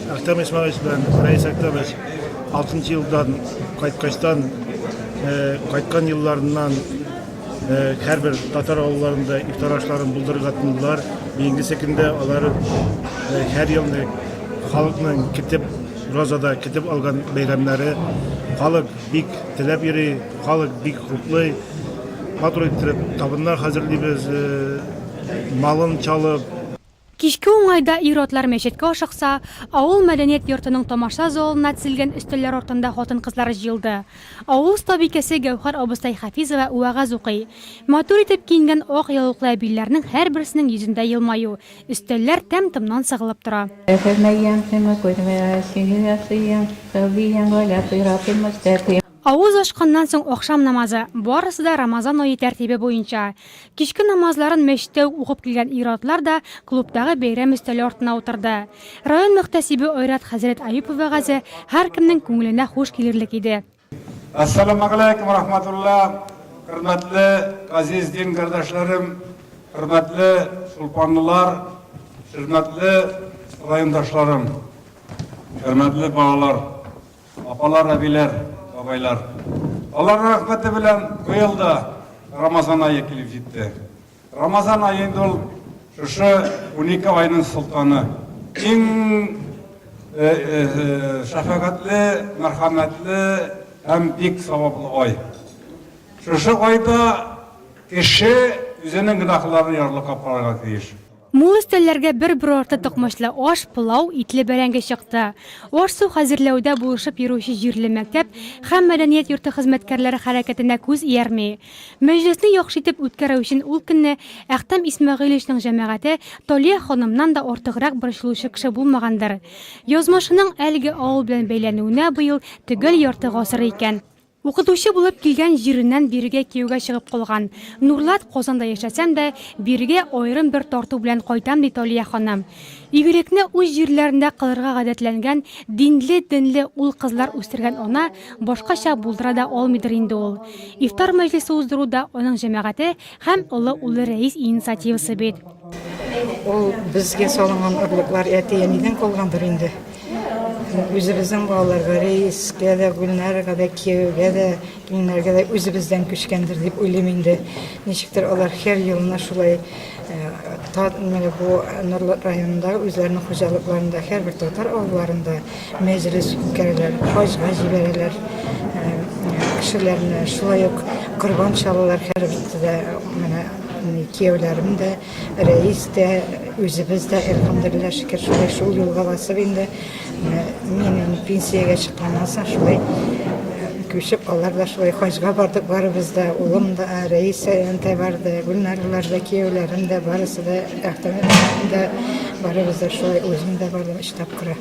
Әхтәм Исмаилович белән Рәис Әхтәмович 6 елдан кайткачтан кайткан елларыннан һәрбер татар авылларында ифтар ашларын булдырырга тотындылар. Бигенче көндә алар һәр елны халыкның китеп розада китеп алган бәйрәмнәре халык бик теләп йөри, халык бик хуплый. Матур иттереп табыннар хәзерлибез, малын чалып, Кичке уңайда ир-атлар мәчеткә ашыкса, авыл мәдәният йортының тамаша залына тезелгән өстәлләр артында хатын-кызлар җыелды. Авыл остабикәсе Гәүһәр абыстай Хафизова вәгазь укый. Матур итеп киенгән ак яулыклы әбиләрнең һәрберсенең йөзендә елмаю, өстәлләр тәм-томнан сыгылып тора. Әфәмәйәм, сиңа күрмә, сине ясыйм, Сәүбиям, Галя, Пыйрапыйм, Мөстәкыйм. Авыз ачканнан соң ахшам намазы, барысы да Рамазан ае тәртибе буенча. Кичке намазларын мәчеттә үк укып килгән ир-атлар да клубтагы бәйрәм өстәле артына утырды. Район мөхтәсибе Айрат хәзрәт Әюпов вәгазе һәркемнең күңеленә хуш килерлек иде. Әссәламәгаләйкүм рахмәтулла, хөрмәтле газиз дин кардәшләрем, хөрмәтле чулпанлылар, хөрмәтле райондашларым, хөрмәтле балалар! Апалар, әбиләр, бабайлар! Аларның рәхмәте белән быел да Рамазан ае килеп җитте. Рамазан ае инде ул шушы унике айның солтаны. Иң шәфәгатьле, мәрхәмәтле һәм бик саваплы ай. Шушы айда кеше үзенең гөнаһларын ярлыкап карарга тиеш. Мул өстәлләргә бер брорты токмачлы аш, пылау, итле бәрәңге чыкты. Аш-су хәзерләүдә булышып йөрүче җирле мәктәп һәм мәдәният йорты хезмәткәрләре хәрәкәтенә күз иярми. Мәҗлесне яхшы итеп үткәрү өчен ул көнне Әхтәм Исмәгыйлевичның җәмәгате Талия ханымнан да артыграк борчылучы кеше булмагандыр. Язмышының әлеге авыл белән бәйләнүенә быел төгәл ярты гасыр икән. Укытучы булып килгән җиреннән бирегә кияүгә чыгып калган. Нурлат, Казанда яшәсәм дә, бирегә аерым бер тарту белән кайтам, ди Талия ханым. Игелекне үз җирләрендә кылырга гадәтләнгән динле-дөнле ул-кызлар үстергән ана башкача булдыра да алмыйдыр инде ул. Ифтар мәҗлесе уздыру да аның җәмәгате Һәм олы улы Рәис инициативасы бит. Ул безгә салынган орлыклар әти-әнидән калгандыр инде. Үзебезнең балаларга, Рәискә дә, Гөлнарга да, кияүгә дә, киленнәргә дә үзебездән күчкәндер дип уйлыйм инде. Ничектер алар һәр елына шулай бу Норлат районында үзләренең хуҗалыкларында, һәрбер татар авылларында Мәҗлес үткәрәләр, хаҗга җибәрәләр кешеләрне, шулай ук корбан чалалар һәр биттә менә кияүләрем дә, рәис тә, үзебез дә, әлхәмдулилла, шөкер, шулай шул юлга басып инде. Мин пенсиягә чыкканнан соң шулай күчеп, алар да шулай хаҗга бардык, барыбыз да, улым да, рәис дә барды, Гөлнарлар да, кияүләрем дә, барысы да, Әхтәм да, барыбыз да шулай, үзем дә бардым. тапкыры.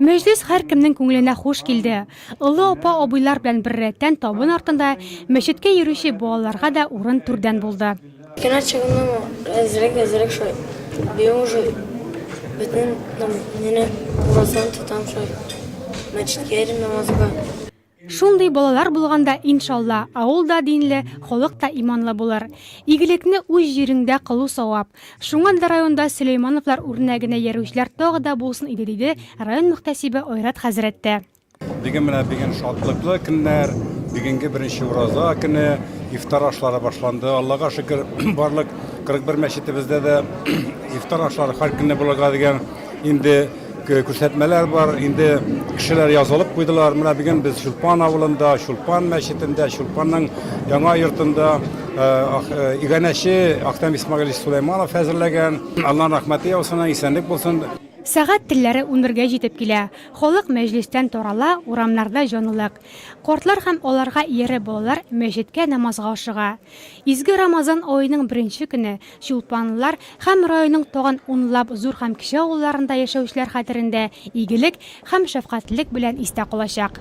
Мәҗлес һәркемнең күңеленә хуш килде. Олы апа-абыйлар белән беррәттән табын артында мәчеткә йөрүче балаларга да урын түрдән булды. Кино чыгуның әзрәк-әзрәк шулай быел уже бөтен намазны уразаны тотам шулай мәчеткә йөрим намазга. Шундый балалар булганда, иншалла, авыл да динле, халык та иманлы булыр. Игелекне үз җиреңдә кылу савап. Шуңа да районда Сөләймановлар үрнәгенә иярүчеләр тагы да булсын иде, диде район мөхтәсибе Айрат хәзрәт тә. Бүген менә бүген шатлыклы көннәр, бүгенге беренче ураза көне, ифтар ашлары башланды. Аллага шөкер, барлык 41 мәчетебездә дә ифтар ашлары һәр көнне булырга дигән инде Күрсәтмәләр бар, инде кешеләр язылып куйдылар. Менә бүген без Чулпан авылында, Чулпан мәчетендә, Чулпанның яңа йортында э, э, иганәче Ахтам Исмагилович Сулейманов әзерләгән. Алланың рәхмәте яусын, исәнлек булсын. Сәгать телләре унбергә җитеп килә. Халык мәҗлестән тарала, урамнарда җанлылык. Картлар һәм аларга иярә балалар мәчеткә намазга ашыга. Изге Рамазан аеның беренче көне Чулпанлылар һәм районның тагын унлап зур һәм кече авылларында яшәүчеләр хәтерендә игелек һәм шәфкатьлелек белән истә калачак.